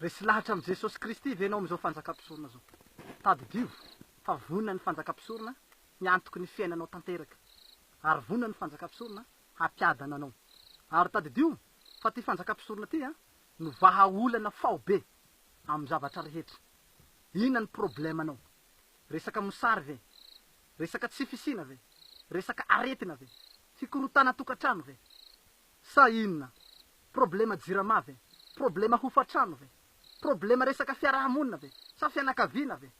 Resy lahatra amin'i Jesosy Kristy ve ianao amin'izao fanjakam-pisorona izao? Tadidio fa vonona ny fanjakam-pisorona ny antoky ny fiainanao tanteraka, ary vonona ny fanjakam-pisorona hampiadana anao. Ary tadidio fa ity fanjakam-pisorona ity no vahaolana faobe amin'ny zavatra rehetra. Inona ny problemanao? Resaka mosary ve? Resaka tsy fisiana ve? Resaka aretina ve? Fikorontanan-tokantrano ve? Sa inona? Problema jirama ve? Problema hofantrano ve? Problema resaka fiaraha-monina ve? Sa fianakaviana ve?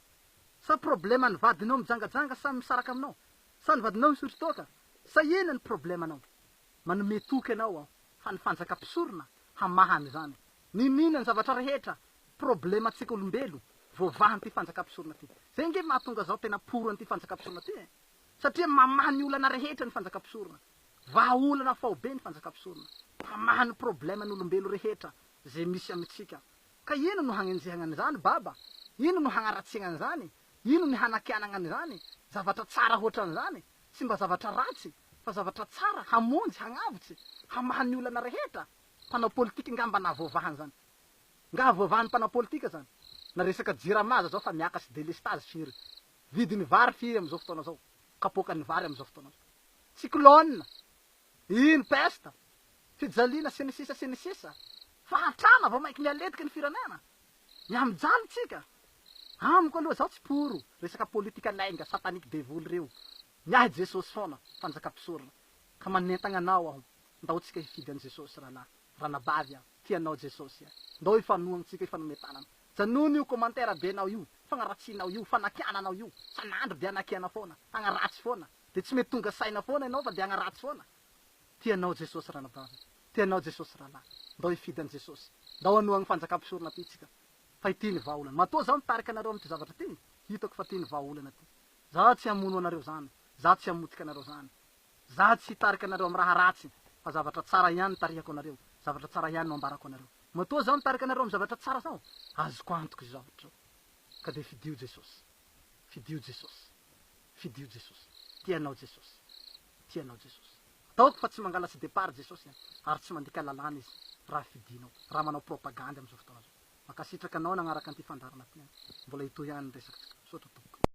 Sa problema ny vadinao mijangajanga sa misaraka aminao? Sa ny vadinao misotro toaka? Sa inona ny problemanao? Manome toky anao aho fa ny fanjaka mpisorona hamaha an'izany. Niniana ny zavatra rehetra, problema antsika olombelo, voavahan'ity fanjaka mpisorona ity. Zay nge mahatonga zaho tena pour an'ity fanjaka mpisorona ity e! Satria mamaha ny olana rehetra ny fanjaka mpisorona. Vahaolana faobe ny fanjakam-pisorona, mpamaha ny problème n'olombelo rehetra ze misy amintsika, ka ino no hagnenjehagna an'izany baba? Ino no hagnaratsiagna an'izany? Ino ny hanakianagna an'izany? Zavatra tsara hoatran'izany? Tsy mba zavatra ratsy, fa zavatra tsara, hamonjy, hagnavotsy, hamaha ny olana rehetra? Mpanao politika nga mba nahavoavaha an'izany? Nga havoavahan'ny mpanao politika zany? Na resaka jirama aza zao fa miakatry delestazy firy? Vidin'ny vary firy amin'izao fotoana izao? Kapoakan'ny vary amin'izao fotoana izao. Cyclone, iny peste, fijaliana sy ny sisa sy ny sisa. Fahantrana vao mainka mihaletiky ny firenena. Mihamijaly tsika. Amiko aloha izaho tsy pour resaka politika lainga satanique devoly ireo. Ny ahy Jesosy foana, fanjaka mpisorona. Ka manentagna anao aho, ndao tsika hifidy an'i Jesosy rahalahy, ranabavy a. Tia anao Jesosy a. Ndao ifanohagna tsika ifanome tanana. Janono io commentaire be nao io, fagnaratsianao io, fanakiananao io. Sanandro de anakiana foana, agnaratsy foana. De tsy mety tonga saina foana enao fa de agnaratsy foana. Tia anao Jesosy ranabavy a. Tia anao Jesosy ralah. Ndao ifidy an Jesosy. Ndao anohagna fanjaka mpisorona ty tsika. Fa ity ny vahaolana. Matoa zaho mitarika anareo amity zavatra ty, hitako fa ty ny vahaolana ty. Zaho tsy hamono anareo zany. Zaho tsy hamotika anareo zany. Za tsy hitarika anareo am raha ratsy fa zavatra tsara ihany nitarihako anareo, zavatra tsara ihany no ambarako anareo. Matoa zaho nitarika anareo am zavatra tsara zao, azoko antoka izao hatreo. Ka dia fidio Jesosy. Fidio Jesosy. Fidio Jesosy. Tia anao Jesosy. Tia anao Jesosy. Ataoko fa tsy mangalatra départ Jesosy an, ary tsy mandika lalàna Izy raha fidinao, raha manao propagandy am zao fotoana zao. Mankasitraka anao nanaraka an'ity fandaharana ity an. Mbola hitohy any ny resaka tsika. Misaotra tompoko.